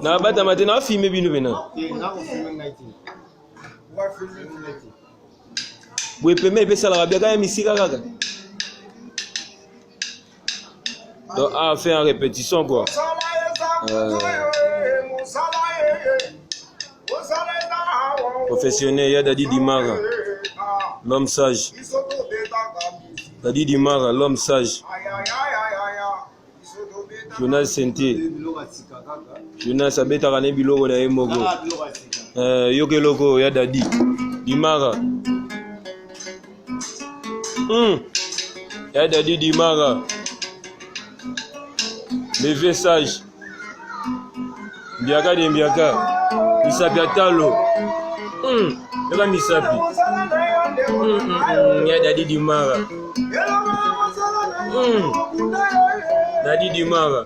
nabatama te nafime bino pena boye pema epesalaka biaka ya misika kaka Donc, a fait en répétition, quoi. Euh... Professionnel, il y a Dadi Dimara, l'homme sage. Dadi Dimara, l'homme sage. jonas sente jonas abetaka ne biloko na ye moko eh, yoka eloko ya dadi dimara Hmm. Ya Daddy Dimara. Le vieux sage. Mbiaka de Mbiaka. Misapi Atalo. Hmm. Yaka misapi. Hmm, hmm, hmm. Ya Daddy Dimara. Hmm. Daddy Dimara.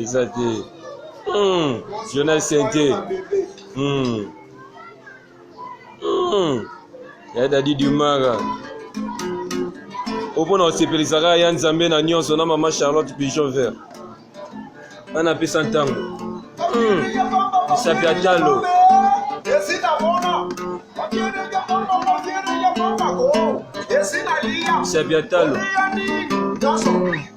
eza te mm. jonas sente mm. mm. ya dadi dumara o mpo na kosepelisaka ya nzambe na nyonso na mama charlotte pigeon vert ana apesa ntango hmm. misapi ya talo misapi ya talo